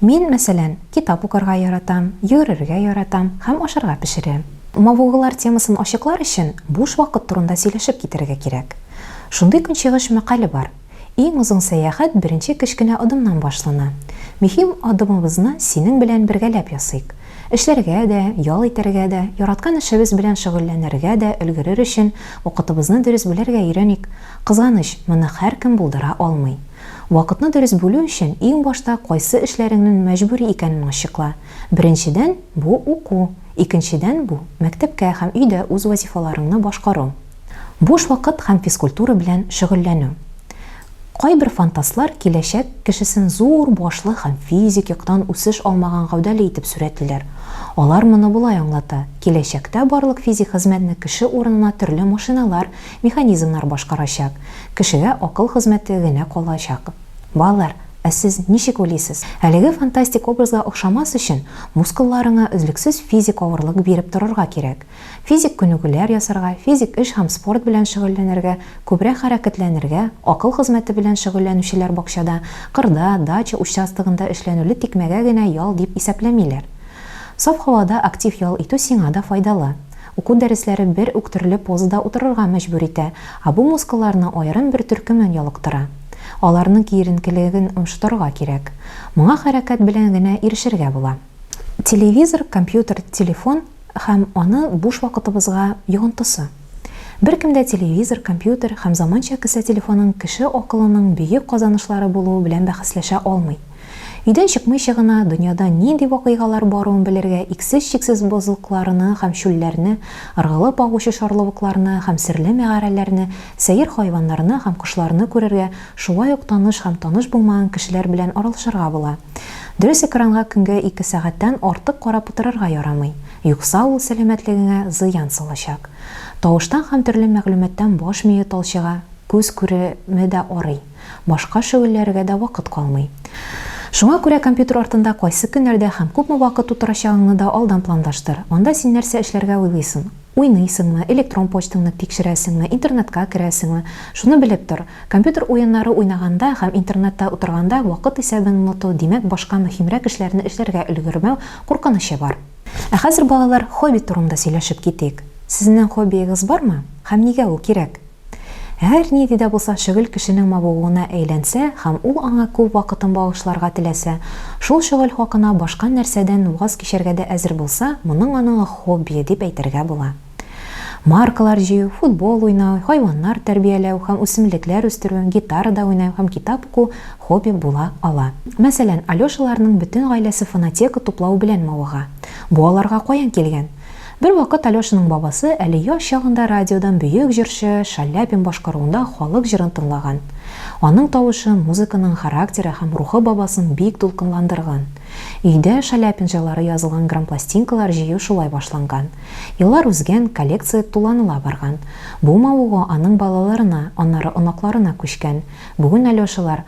Мин, мәсәлән, китап укырга яратам, йөгерергә яратам һәм ашарга пешерәм. Мавыгулар темасын ачыклар өчен буш вакыт турында сөйләшеп китәргә кирәк. Шундый көнчыгыш мәкале бар, Иң озын сәяхәт беренче кечкенә адымнан башлана. Мөһим адымыбызны синең белән бергәләп ясыйк. Эшләргә дә, ял итәргә дә, яраткан эшебез белән шөгыльләнергә дә өлгерер өчен вакытыбызны дөрес бүләргә өйрәник. Кызганыч, моны һәркем булдыра алмый. Вакытны дөрес бүлү өчен иң башта кайсы эшләреңнен мәҗбүри икәнен ачыкла. Беренчедән, бу, уку. Икенчедән, бу, мәктәпкә һәм өйдә үз вазифаларыңны башкару. Буш вакыт һәм физкультура белән шөгыльләнү. Кайбер фантастлар киләчәк кешесен зур башлы һәм физик яктан үсеш алмаган гәүдәле итеп сурәтлиләр. Алар моны болай аңлата, киләчәктә барлык физик хезмәтне кеше урынына төрле машиналар Механизмнар башкарачак. Кешегә акыл хезмәте генә калачак. Балалар, ә сез ничек уйлыйсыз? Әлеге фантастик образга охшамас өчен, мускулларыңа өзлексез физик авырлык биреп торырга кирәк. Физик күнегүләр ясарга, физик эш һәм спорт белән шөгыльләнергә, күбрәк хәрәкәтләнергә, акыл хезмәте белән шөгыльләнүчеләр бакчада, кырда, дача участогында эшләнүле тикмәгә генә ял дип исәпләмиләр. Саф һавада актив ял итү сиңа да файдалы. Уку дәресләре бер үк төрле позада утырырга мәҗбүр итә, ә бу мускулларны аерым бер төркемен ялыктыра. Аларның киеренкелеген омшытырга кирәк. Моңа хәрәкәт белән генә ирешергә була. Телевизор, компьютер, телефон һәм аны буш вакытыбызга йогынтысы. Беркем дә телевизор, компьютер һәм заманча кесә телефонын кеше акылының бөек казанышлары булуы белән бәхәсләшә алмый. Өйдән чыкмыйча гына, дөньяда нинди вакыйгалар баруын белергә, иксез-чиксез бозлыкларны һәм чүлләрне, ыргылып агучы шарлавыкларны һәм серле мәгарәләрне, сәер хайваннарны һәм кошларны күрергә, шулай ук таныш һәм таныш булмаган кешеләр белән аралашырга була. Дөрес экранга көнгә ике сәгатьтән артык карап утырырга ярамый, юкса ул сәламәтлегеңә зыян салачак. Тавыштан һәм төрле мәгълүматтан баш мие талчыга, күз күреме дә арый. Башка шөгыльләргә дә вакыт калмый. Шуңа күрә компьютер артында кайсы көннәрдә һәм күпме вакыт утырачагыңны да алдан планлаштыр. Анда син нәрсә эшләргә уйлыйсың? Уйныйсыңмы, электрон почтаңны тикшерәсеңме, интернетка керәсеңме? Шуны белеп тор, компьютер уеннары уйнаганда һәм интернетта утырганда вакыт исәбен оныту, димәк, башка мөһимрәк эшләрне эшләргә өлгермәү куркынычы бар. Ә хәзер, балалар, хобби турында сөйләшеп китик. Сезнең хоббиегыз бармы? Һәм нигә ул кирәк? Һәр нинди дә булса шөгыль кешенең мавыгуына әйләнсә һәм ул аңа күп вакытын багышларга теләсә, шул шөгыль хакына башка нәрсәдән ваз кичәргә дә әзер булса, моның аның хоббие дип әйтергә була. Маркалар җыю, футбол уйнау, хайваннар тәрбияләү һәм үсемлекләр үстерү, гитарада уйнау һәм китап уку хобби була ала. Мәсәлән, Алешаларның бөтен гаиләсе фонотека туплау белән мавыга. Бу аларга каян килгән? Бервакыт Алешаның бабасы әле яшь чагында радиодан бөек җырчы Шаляпин башкаруында халык җырын тыңлаган. Аның тавышы, музыканың характеры һәм рухы бабасын бик дулкынландырган. Өйдә Шаляпин җырлары язылган грампластинкалар җыю шулай башланган. Еллар узгән, коллекция туланыла барган. Бу мавыгу аның балаларына, аннары оныкларына күчкән. Бүген Алешалар,